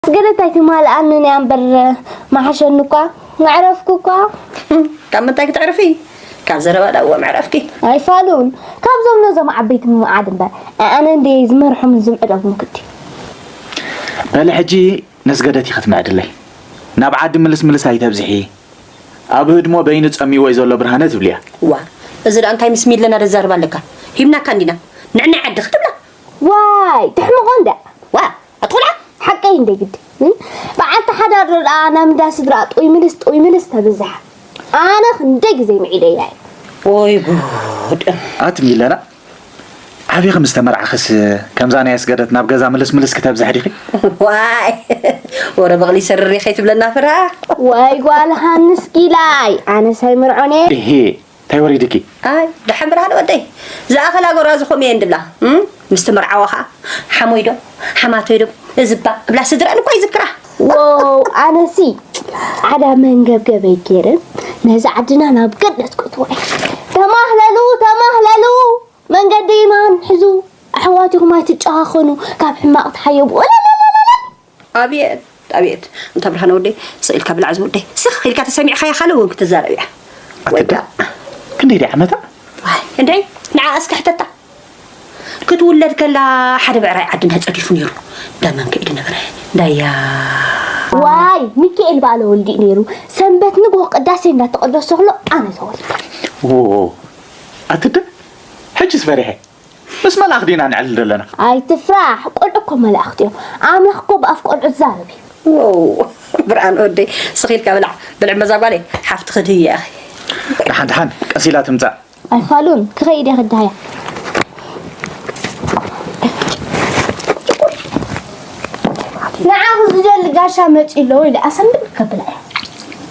ኣስገደት ኣይትማልኣንን እያ እምበር ምሓሸኒ እኳ መዕረፍኩ እኳ። ካብ ምንታይ ክተዕርፊ ካብ ዘረባ ዳእዎ መዕረፍኪ። ኣይፋሉን ካብዞም ነዞም ዓበይቲ ምምዓድ እምበር ኣነ እንድየ ዝመርሖምን ዝምዕደጉን ግዲ። በሊ ሕጂ ነስገደት ኢኺ ትምዕድለይ ናብ ዓዲ ምልስ ምልስ ኣይተብዝሒ ኣብ ህድሞ በይኑ ጸሚዎ'ዩ ዘሎ ብርሃነ ትብልያ። እዋ እዚ ደኣ እንታይ ምስ ሚለና ደዛርባ ኣለካ ሂብናካ እንዲና ንዕናይ ዓዲ ክትብላ። ዋይ ትሕምቆ እንድያ። ዋእ ኣትቁልዓ ሓቀይ እንደ ግዲ በዓልቲ ሓዳር ዶ ደኣ ናብ እንዳ ስድራ ጥውይ ምልስ ጥውይ ምልስ ተብዝሓ ኣነ ክንደይ ግዜ ምዒደያ እዩ ወይ ጉድ ኣቲ ሚለና ዓብዪ ከም ዝተመርዓኽስ ከምዛ ናይ ኣስገደት ናብ ገዛ ምልስ ምልስ ክተብዝሕ ዲኺ ዋይ ወረ በቕሊ ሰርሪ ከይትብለና ፍራ ዋይ ጓል ሃንስ ጊላይ ኣነስ ኣይምርዖን እየ ታይ ወሪድኪ። ኣይ ደሓን ብርሃን ወደይ ዝኣኸላ ጎራዙ ከምኡ እየን ድብላ ምስቲ መርዓዋ ከኣ ሓሞይ ዶ ሓማቶይ ዶ እዝባ እብላ ስድረን እኮ ይዝክራ ዋው ኣነሲ ዓዳ መንገብገበይ ገይረ ነዚ ዓድና ናብ ገነት ክትዋ ተማህለሉ ተማህለሉ መንገዲ ማን ሕዙ ኣሕዋትኹም ኣይትጨኻኸኑ ካብ ሕማቕ ተሓየቡ ኣብየት ኣብየት እንታ ብርሃነ ወደይ ስቅ ኢልካ ብላዕ ዝውደይ ስኽ ኢልካ ተሰሚዕኻያ ካልእ እውን ክትዛረብ እያ ወይዳ ክንደይ ድያ ዓመታ እንድዒ ንዓ እስከ ሕተታ ክትውለድ ከላ ሓደ ብዕራይ ዓድና ፀዲፉ ነይሩ እንዳ መን ከይዱ ነበረ እንዳያ ዋይ ሚካኤል ባለ ወልዲ ነይሩ ሰንበት ንግሆ ቅዳሴ እንዳተቀደሰ ከሎ ኣነ ተወልደ ኣትደ ሕጅስ ፈሪሐ ምስ መላእክ ዲና ንዕልል ደለና። ኣይትፍራሕ ቆልዑ እኮ መላእክት እዮም ኣምላኽ እኮ ብኣፍ ቆልዑ ዝዛረብ እዩ። ዎው ብርሃን ወደይ ስኽ ኢልካ ብላዕ ብልዕ በዛ ጓለይ ሓፍቲ ክድህያ ኢኺ ደሓን ደሓን ቀስ ኢላ ትምጻእ ኣይፋሉን ክኸይድ እየ ክድሃያ ንዓኹ ዝደሊ ጋሻ መፂኡ ኣለዎ ኢለ ኣሰንብድ ከብላ እየ